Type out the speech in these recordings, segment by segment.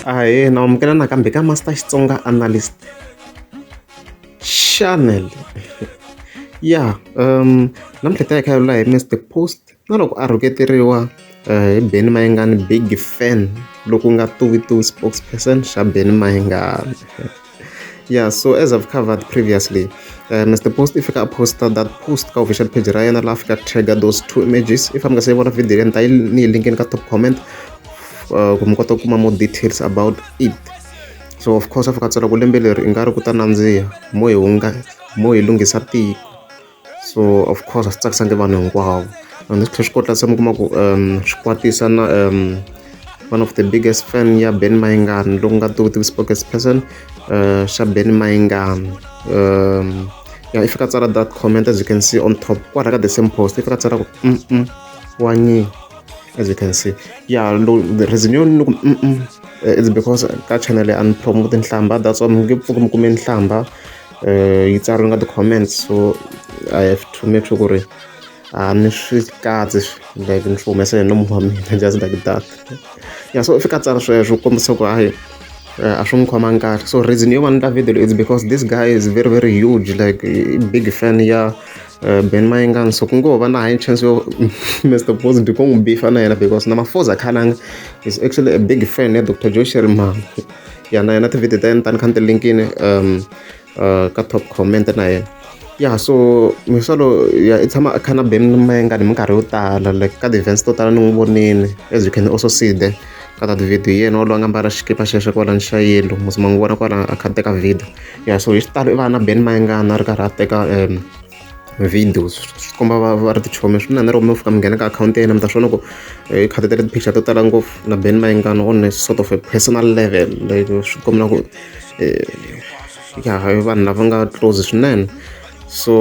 ahee na amukela nakambe ka master xitsonga analyst channel ya um namuntlha ta hi khayolula hi mr post na loko a rhuketeriwa eh, hi beni mayingani big fan loku nga tuvi tuvi spokesperson xa beni mayingani yeah so as i've covered previously uh, mr post if ka poster that post ka official page ra yena la fika trigger those two images if i'm gonna say vona video leyi ta ni link in ka top comment uh, ku mi kota ku kuma more details about it so of course afika tsala ku lembe leri i nga ri ku ta nandziha mo hi hunga mo hi lunghisa tiko so of course a swi tsakisa ndi vanhu hinkwavo and swi tlhela swi kota se mi kuma ku um swi kwatisa na um one of the biggest fan ya ben mayingani loko nga tivi tivi spokes person uh, xa ben mayingani um ya i fika tsala that comment as you can see on top kwala ka the same post i fika tsala ku mm, -mm wa nyi as you can see ya lo the reason yo ni ku mm, mm eh, it's because ka channel ya ni promote nhlamba that's why mi nge pfuki mi kume nhlamba yi tsariwe ka ti-comments so I have to make sure ku ri a ni swi katsi like ni swi humesa hi nomu wa mina just like that ya so i fika a tsari sweswo ku kombisa ku hayi a swi n'wi khomangi kahle so reason yo va ni ta video leyi is because this guy is very very huge like i big fan ya uh, ben mayengani so ku ngo va na high chance yo mr positive ku n'wi bifa na yena because na mafoza khalanga is actually a big fan ya dr josheri mama ya na yana tivhidiyo ta yena tani kha ni ti linkini um uh, ka top comment na yena ya so misolo ya i tshama a kha na beni mengani minkarhi yo tala like ka ti-events to tala ni n'wi vonini as you can also see there ka ta tivhidiyo yena wolowo a nga mbala xikipa xexo kwala ni xa yelo muzima n'wi vona kwala a kha teka video ya so hi xitalo i va na beni mayengana a ri karhi a teka um video swi komba va va ri tichomi swinene loko mi fika mi nghena ka akhawunti ya yena mi ta swona ku hi khadi tele ti-picture to tala ngopfu na ben mayingana on a sort of a personal level like swi kombela ku ya vanhu lava nga close swinene so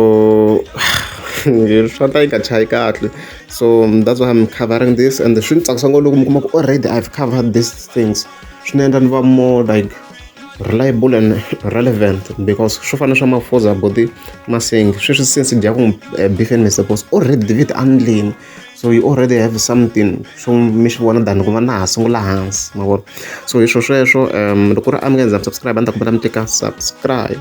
swa ta yi nga chayi kahle so that's why I'm covering this and swi ni tsakisa ngopfu loko mi kuma ku already I've covered these things. swi ni endla ni va more like reliable and relevant because swo fana swa mafuza body masingi sweswi since dya ku eh, beef and vegetables already vit andleni so you already have something swo mi swi vona than ku va na ha sungula hansi ma vona so hi swo sweswo um loko ri a mi nga ndza subscribe a ni ta kumbela mi tika subscribe